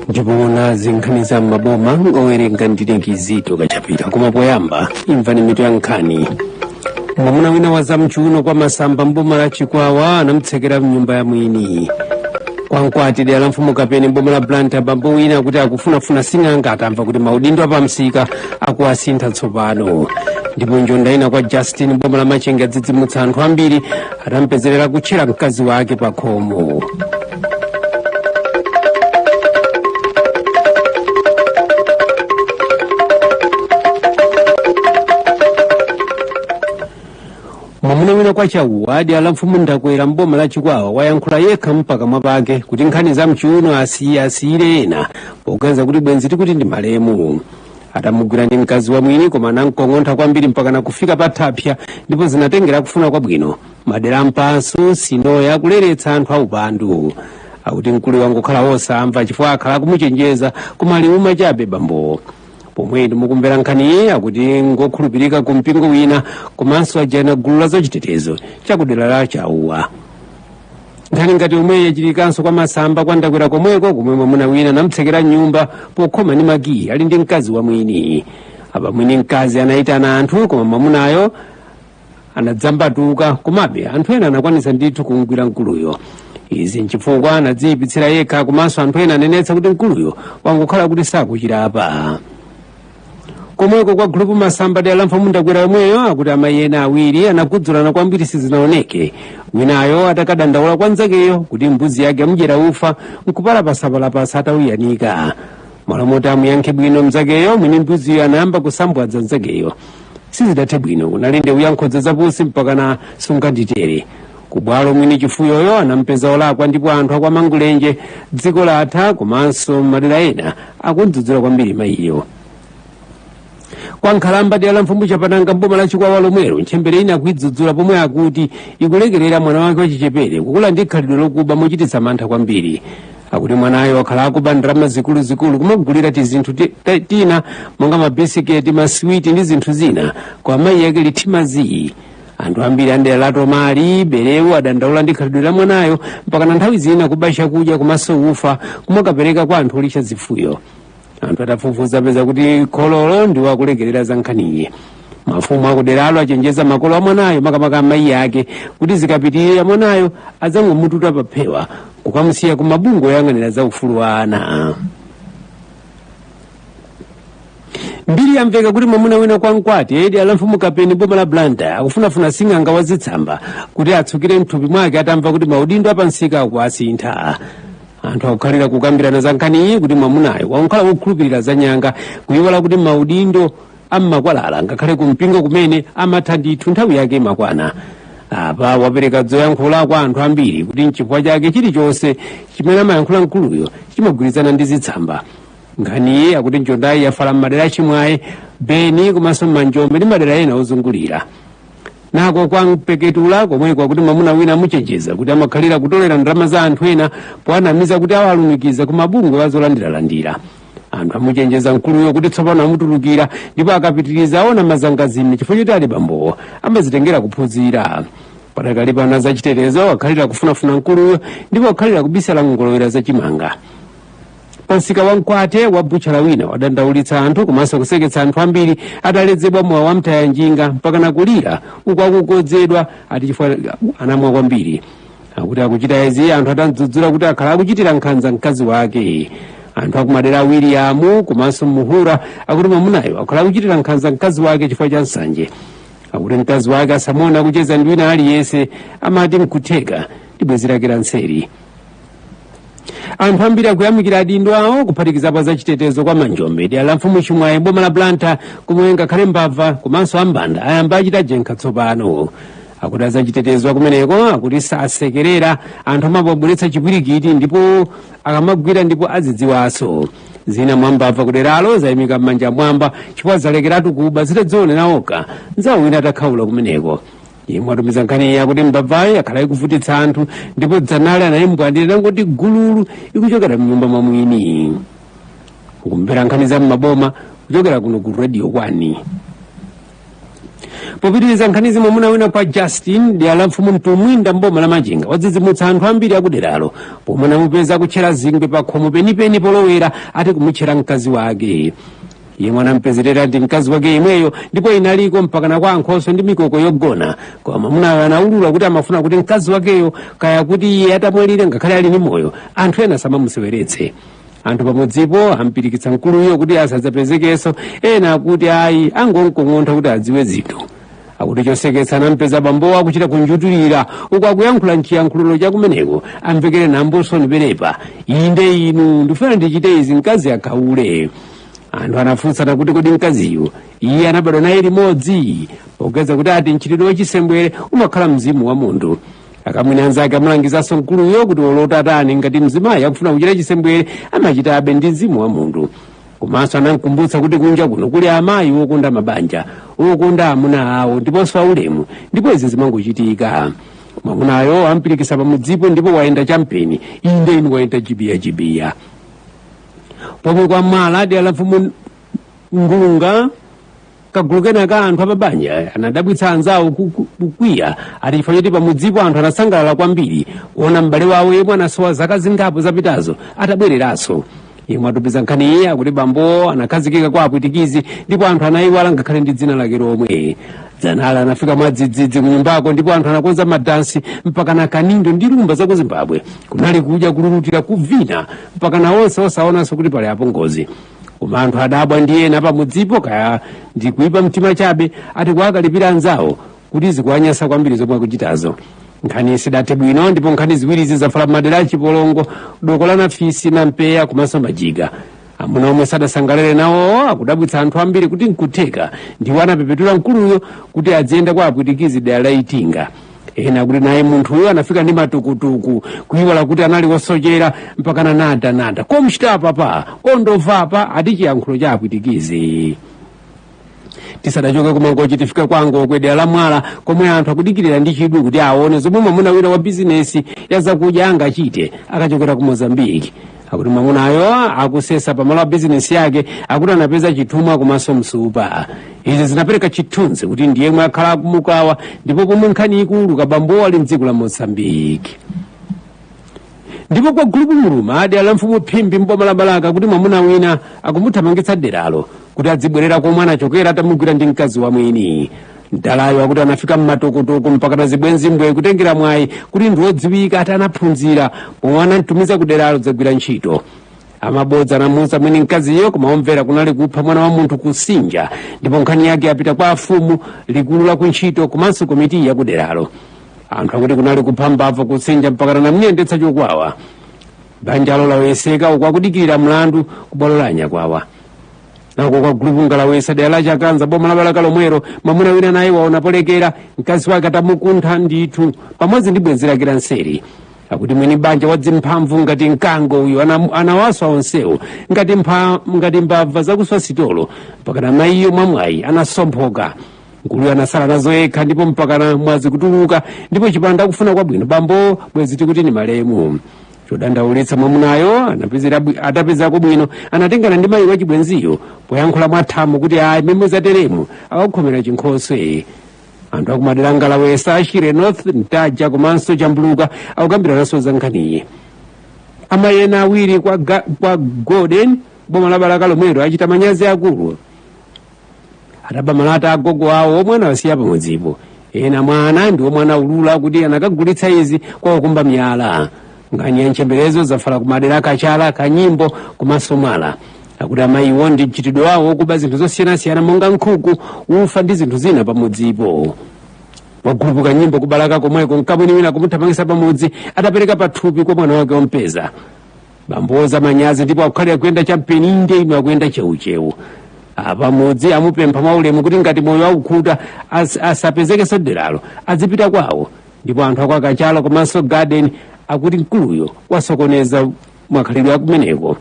ndipo nazi nkhani za m'maboma owerenga ndine kizito kachapita koma poyamba imvani mitu ya nkhani mwamuna wina wa zamchuuno kwa masamba mboma la chikwawa anamtsekera mnyumba ya mwini kwa mkwati dera la mfumu kapeni mboma la blantyre bambo wina akuti akufunafuna sing'anga atamva kuti maudindo apamsika akuwasintha tsopano ndipo njonda ina kwa justin mboma la machinga wadzidzimutsa anthu ambiri atampezerera akutchera mkazi wake pa khomo mwamuna wina kwa chauwa dera la mfumu ndakwera mboma la chikwawa wayankhula yekha mpaka mwapake kuti nkhani za mchiuno asiye asiyire ena poganiza kuti bwenzi tikuti ndi malemu atamugwira ndi mkazi wa mwini koma anamkong'ontha kwambiri mpaka nakufika pa thaphsya ndipo zinatengera kufuna kwabwino madera a mpasu sinoya akuleretsa anthu aupandu akuti mkuluyo wangokhala wosamva chifukwa akhala akumuchenjeza koma liuma chabe bambowo pomwe inu mukumvera nkhaniyi akuti ngokhulupirika ku mpingo wina komanso a gulu la zachitetezo chakudera la chauwa nkhani ngati yomweyi yachitikanso kwa masamba kwa ndakwera komweko komwe mwamuna wina anamtsekera mnyumba pokhoma ndi makiyi ali ndi mkazi wa mwini apa mwini mkazi anayitana anthu koma mwamunayo anadzambatuka komabe anthu ena anakwanitsa ndithu kumgwira mkuluyo izi nchifukwa anadziyipitsira yekha komanso anthu ena anenetsa kuti mkuluyo wangokhala kuti sakuchira apa komweko kwa gulupu masamba dera la mfumu ndakwera yomweyo akuti amayi ena awiri anakudzulana kwambiri sizinaoneke winayo atakadandaula kwa nzakeyo kuti mbuzi zake zamudyera ufa nkupalapasapalapasa atauyanika mmalo moti amuyankhe bwino mzakeyo mwini mbuziyo anayamba kusambwadza nzakeyo sizidathe bwino kunali ndewu ya mkodzapansi mpakana sunganditere kubwalo mwini chifuyoyo anampeza wolakwa ndipo anthu akwamangulenje dziko latha komanso madera ena akudzudzula kwambiri mayiyo kwa nkhalamba dera la mfumu chapananga mboma la chikwawa lomwelo ntchembere ina akuyidzudzula pomwe akuti ikulekerera mwana wake wachichepere kukula ndi khalidwe lokuba mochititsa mantha kwambiri akuti mwanayo wakhala akuba ndalama zikuluzikulu kumagulira tizinthu ti- ta- tina monga mabisiketi maswiti ndi zinthu zina koma amayi ake ali phee zii anthu ambiri a mdera la tomali berewu adandaula ndi khalidwe la mwanayo mpakana nthawi zina kuba chakudya komanso ufa kumakapereka kwa anthu olishya zifuyo anthu atafufuza apeza kuti khololo ndiwo akulekerera za nkhaniyi mafumu akuderalo achenjeza makolo a mwanayo makamaka amayi ake kuti zikapitirira mwanayo adzangomunyamula paphewa kukamusiya ku mabungwe oyang'anira za ufulu wa ana mbiri yamveka kuti mwamuna wina kwa mkwati dera la mfumu kapeni mboma la blantyre akufunafuna sing'anga wa zitsamba kuti atsukire mthupi mwake atamva kuti maudindo apamsika akuasintha anthu akukhalira kukambirana za nkhani iyi kuti mwamunayo wakhala wokhulupirira za nyanga kuyiwala kuti maudindo ammakwalala ngakhale ku mpingo kumene amatha ndithu nthawi yake imakwana apa wapereka zoyankhula kwa anthu ambiri kuti nchifukwa chake chilichonse chimene amayankhula mkuluyo chimagwirizana ndi zitsamba nkhaniyi akuti njondayi yafala m'madera achimwaye beni komanso m'manjombe ndi madera ena ozungulira nako kwa mpeketula komweko akuti mwamuna wina amuchenjeza kuti amakhalira kutolera ndalama za anthu ena powanamiza kuti awalumikiza ku mabungwe azolandiralandira anthu amuchenjeza mkuluyo kuti tsopano amutulukira ndipo akapitiriza aona mazangazime chifukwa choti ali bambowo amazitengera kuphunzira padakali pano azachitetezo akhalira kufunafuna mkuluyo ndipo akhalira kubisala nkungolowera zachimanga pamsika wa mkwate wa butchala wina wadandaulitsa anthu komanso kuseketsa anthu ambiri ataledzera mowa wa mtaya njinga mpakana kulira uku akukodzedwa ati chifukwa anamwa kwambiri akuti akuchita izi anthu atamdzudzula kuti akhala akuchitira nkhanza mkazi wake anthu akumadera a wiliamu komanso muhura akuti mwamunayo akhala akuchitira nkhanza mkazi wake chifukwa cha nsanje akuti mkazi wake asamuone akucheza ndi wina aliyense amati nkutheka ndi bwenzi lake la nseri anthu ambiri akuyamikira adindo awo kuphatikizapo azachitetezo kwa manjombe dera la mfumu chimwayi boma la blantyre komwe ngakhale mbava komanso ambanda ayamba achita jenkha tsopano akuti azachitetezo akumeneko akuti sasekerera anthu amabweretsa chipwirikiti ndipo akamagwira ndipo azidziwanso zina mwa mbava kuderalo zayimika manja m'mwamba chifukwa zalekeratu kuba zitadzionera okha nzawo wina atakhaula kumeneko yemwe watumiza nkhaniyi akuti mbavayi akhala ikuvutitsa anthu ndipo dzanali anayimbwandira inangoti gululu ikuchokera mnyumba mwa mwini mukumvera nkhani za mmaboma kuchokera kuno ku radio 1 popitiriza nkhanizi mwamuna wina kwa justin dera la mfumu mtumbwinda mboma la machinga wadzidzimutsa anthu ambiri akuderalo pomwe anamupeza akutchera zingwe pa khomo penipeni polowera ati kumutchera mkazi wake yemwe anampezerera ndi mkazi wake yemweyo ndipo inaliko mpakana kwa ankhoswe ndi mikoko yogona koma mwamunayo anaulula kuti amafuna kuti mkazi wakeyo kaya kuti iye atamwalira ngakhale ali ndi moyo anthu ena asamamuseweretse anthu pamudzipo ampirikitsa mkuluyo kuti asadzapezekenso ena akuti ayi angomkong'ontha kuti adziwe zinthu akuti choseketsa anampeza bambowo akuchita kunjutulira uku akuyankhula mchiyankhulo chakumeneko amvekere nambosoni penepa inde inu ndifuna ndichite izi mkazi akhaule anthu anafunsana kuti kodi mkaziyu iye anabadwa naye limodzi popeza kuti ati mchitidwe wachisembwere umakhala mzimu wa munthu akamwini anzake amalangizanso mkuluyo kuti olota atani ngati mzimayi akufuna kuchita chisembwere amachitabe ndi mzimu wa munthu komanso anamkumbutsa kuti kunja kuno kuli amayi wokonda mabanja wokonda amuna awo ndiponso aulemu ndipo izi zimangochitika mwamunayo ampirikisa pamudzipo ndipo wayenda champeni inde inu wayenda jibiya jibiya pomwe kwa mwala dera la mfumu ngulunga kagulu kena ka anthu apabanja anadabwitsa anzawo ku- ku- kukwiya ati chifukwa choti pamudzipo anthu anasangalala kwambiri kuona m'bale wawo yemwe anasowa zaka zingapo zapitazo atabwereranso yemwe atumiza nkhaniyi akuti bamboyo anakhazikika kwa apwitikizi ndipo anthu anayiwala ngakhale ndi dzina lake lomwe dzanala anafika mwadzidzidzi kunyumbako ndipo anthu anakonza madansi mpaka na kanindo ndi rumba za ku zimbabwe kunali kudya kululutira kuvina mpaka na onse osaonanso kuti pali apongozi koma anthu adabwa ndi ena pamudzipo kaya ndi kuipa mtima chabe ati kuwakalipira anzawo kuti zikuwanyasa kwambiri zomwe akuchitazo nkhani sidathe bwino ndipo nkhani ziwirizi zafala madera achipolongo doko la nafisi na mpeya komanso majiga amuna omwe sadasangalale nawo akudabwitsa anthu ambiri kuti nkutheka ndiwo anapepetula mkuluyo kuti adziyenda kwa apwitikizi dera la itinga ena akuti naye munthuyo anafika ndi matukutuku kuiwala kuti anali wosochera mpakana nadanada komchita apapa ondova apa ati chiyankhulo cha apwitikizi tisadachoke kumangochi tifika kwa ngokwe dera la mwala komwe anthu akudikirira ndi chidwi kuti aone zomwe mwamuna wina wa bizinesi ya zakudya angachite akachokera ku mozambiki akuti mwamunayu akusesa pamalo a bizinesi yake akuti anapeza chithumwa komanso nsupa izi zinapereka chithunzi kuti ndi yemwe akhala akumukawa ndipo pomwe nkhaniyi ikutuluka bambowa ali mdziko la mozambiki ndipo kwa gulupu muluma dera la mfumu phimbi m'boma la balaka akuti mwamuna wina akumuthamangitsa deralo kuti adzibwerera komwe anachokera atamugwira ndi mkazi wa mwini mdalayu akuti anafika m'matukutuku mpaka na zibwenzi mbwe kutengera mwayi kuti ndi wodziwika ati anaphunzira pomwe anamtumiza ku deralo kudzagwira ntchito amabodza anamuuza mwini mkaziyo koma umve kunali kupha mwana wa munthu kusinja ndipo nkhani yake yapita kwa afumu likulu la kuntchito komanso komiti yakuderalo anthu akuti kunali kupha mbava kusinja mpakana anamuyendetsa chokwawa banjalo laweseka uku akudikirira mlandu kubwalo la anyakwawa nako kwa gulupu ngalawesa dera la chanthunya boma la balaka lomwero mwamuna wina naye waona polekera mkazi wake atamukuntha ndithu pamodzi ndi bwenzi lake la nseri akuti mwini banja wadzimphamvu ngati mkango uyu ana- anawaswa onsewo ngati mpha- ngati mbava zakuswa sitolo mpaka na mayiyo mwamwayi anasomphoka mkuluyo anasala nazo yekha ndipo mpakana mwazi kutuluka ndipo chipanda kufuna kwabwino bambo bwezi tikuti ni malemu chodandaulitsa mwamunayo anapezera bwi- atapezako bwino anatengana ndi mayi wachibwenziyo poyankhula mwathamo kuti ayi mimwe zateremu akakhomera chinkhoswe anthu akumadera ngalawesa ashire north ntaja komanso chambuluka akukambirananso za nkhaniyi amayi ena awiri kwa, ga, kwa golden boma la balaka lomwero achita manyazi akulu ataba malata agogo awo omwe anawasiya pamudzipo ena mwa ana ndi omwe anaulula kuti anakagulitsa izi kwa okumba miyala nkhani ya ntchemberezo zafala kumadera a kachala kanyimbo komanso mwala akuti amayiwo ndi mchitidwe wawo okuba zinthu zosiyanasiyana monga nkhuku ufa ndi zinthu zina pamudzipo wagulupu kanyimbo kubalaka komweko mkamwini wina kumuthamangisa pamudzi atapereka pathupi kwa mwana wake ompeza bamboo wachita manyazi ndipo akukhalira kuyenda champeni inde ino akuyenda cheucheu pamudzi amupempha mwaulemu kuti ngati moyo akukhuta as, asapezekenso mderalo azipita kwawo ndipo anthu akwakachala komanso garden akuti mkuluyo wasokoneza makhalidwe akumeneko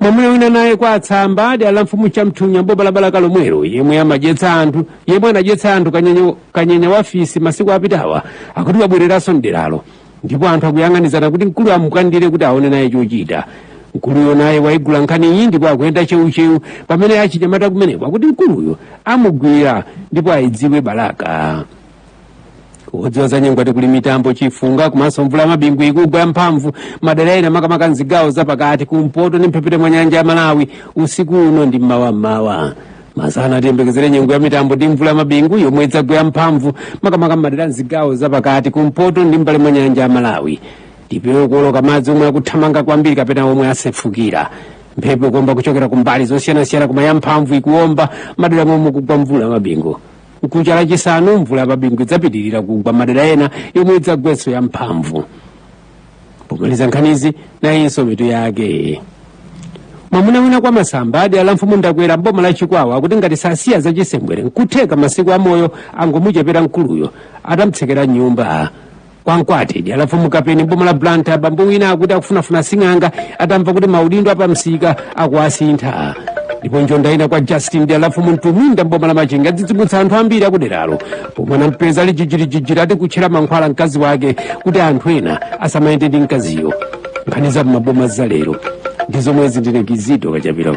mwamuna wina naye kwa atsamba adi ala mfumu chamthunya mboma la balaka lomwero yemwe amadyetsa anthu yemwe anadyetsa anthu kanyenya, kanyenya wafisi masiku apitawa akuti wabwereranso mderalo ndipo anthu akuyang'anizana kuti mkuluyo amufwandire kuti aone naye chochita mkuluyo naye waigula nkhani iyi ndipo akuyenda cheucheu pamene achinyamata kumeneko akuti mkuluyo amugwira ndipo aidziwe balaka odziwa za nyengo ati kuli mitambo chifunga komanso mvula ya mabingu ikugwa yamphamvu madera ena makamaka mzigawo zapakati kumpoto ndi mphepete mwa nyanja ya malawi usiku uno ndi mmawa mmawa masana tiyembekezere nyengo ya mitambo ndi mvula yamabingu yomwe idzagwe yamphamvu makamaka mmadera mzigawo zapakati kumpoto ndi mbali mwa nyanja ya malawi tipewe kuoloka madzi omwe akuthamanga kwambiri kapena omwe asefukira mphepo ikuomba kuchokera kumbali zosiyanasiyana koma yamphamvu ikuomba madera momwe kugwa mvula yamabingu nkucha lachisanu mvula yamabingu idzapitirira kugwa madera ena yomwe idzagwenso yamphamvu pomaliza nkhanizi nayinso mitu yake mwamuna wina kwa masamba adi ala mfumu ndakwera mboma la chikwawa akuti ngati sasiya za chisembwere nkutheka masiku amoyo angomuchepera mkulu wina atamtsekera mnyumba kwa mkwate adi ala mfumu kapeni mboma la blanta bambo wina akuti akufunafuna sing'anga atamva kuti maudindo apamsika akuwasintha ndipo njonda ina kwa justin adi ala mfumu mtuminda mboma la machinga adzidzimutsa anthu ambiri akuderalo pomwe anampeza ali jijirijijiri ati kutchera mankhwala mkazi wake kuti anthu ena asamayende ndi mkaziyo nkhani za m'maboma za lero ndi zomwezi ndine kizito kachapira